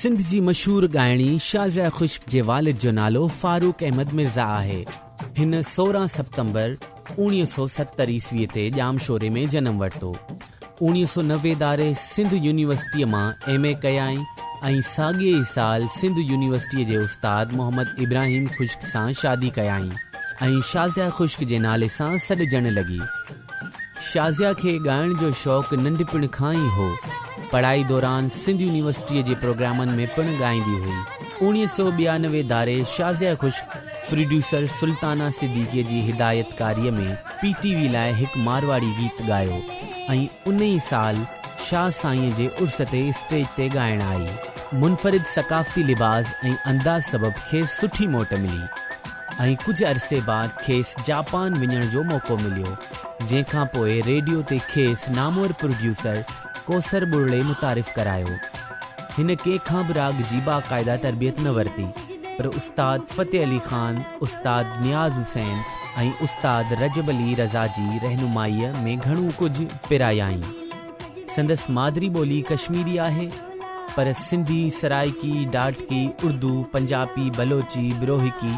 سنڌ جي مشهور ڳائڻي شازيا خشڪ جي والد جو نالو فاروق احمد مرزا آهي. هن سورهن سپتمبر اوڻيهه سؤ ستر عيسوي تي ڄامشوري ۾ جنم ورتو. اوڻيهه سؤ نوي داري سنڌ يونيورسٽيء مان ايم اي ڪيائين ۽ ساڳئي ئي سال سنڌ يونيورسٽيء جي استاد محمد ابراهيم خشڪ سان شادي ڪيائين ۽ شازيا خشڪ جي نالي سان سڏجڻ لڳي. شازيا کي ڳائڻ جو شوق ننڍپڻ کان ئي هو. پڙهائي دوران سنڌ يونيورسٽيء جي پروگرامن ۾ پڻ ڳائيندي هئي. اوڻيهه سؤ ٻيانوي داري شازيا خشڪ پروڊيوسر سلطانه صديقيء جي هدايتڪاريء ۾ پي ٽي وي لاء هڪ مارواڙي گيت ڳايو ۽ انهي سال شاهه سائينء جي عرس تي اسٽيج تي ڳائڻ آئي. منفرد ثقافتي لباس ۽ انداز سبب کيس سٺي موٽ ملي ۽ ڪجهه عرصي بعد کيس جاپان وڃڻ جو موقعو مليو، جنهن کان پوء ريڊيو تي کيس نامور پروڊيوسر ڪوثر ٻرڙي متعارف ڪرايو. هن ڪنهن کان به راڳ جي باقاعده تربيت نه ورتي پر استاد فتح علي خان، استاد نياز حسين ۽ استاد رجب علي رضا جي رهنمائيء ۾ گهڻو ڪجهه پرايائين. سندس مادري ٻولي ڪشميري آهي پر سنڌي، سرائڪي، ڊاٽڪي، اردو، پنجاپي، بلوچي، بروهڪي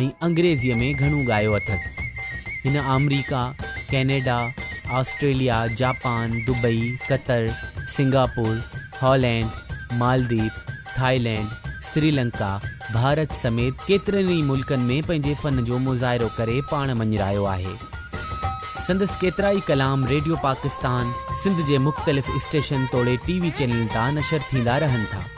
۽ انگريزيء ۾ گهڻو ڳايو اٿس. هن America, Canada, Australia, Japan, Dubai, Qatar, Singapore, Holland, Maldives, Thailand, Sri Lanka, Bharat سميت ڪيترن ئي ملڪن ۾ پنهنجي فن جو مظاهرو ڪري پاڻ مڃرايو آهي. سندس ڪيترائي ڪلام ريڊيو پاڪستان سنڌ جي مختلف اسٽيشن توڙي ٽي وي چينلن تان نشر ٿيندا رهن ٿا.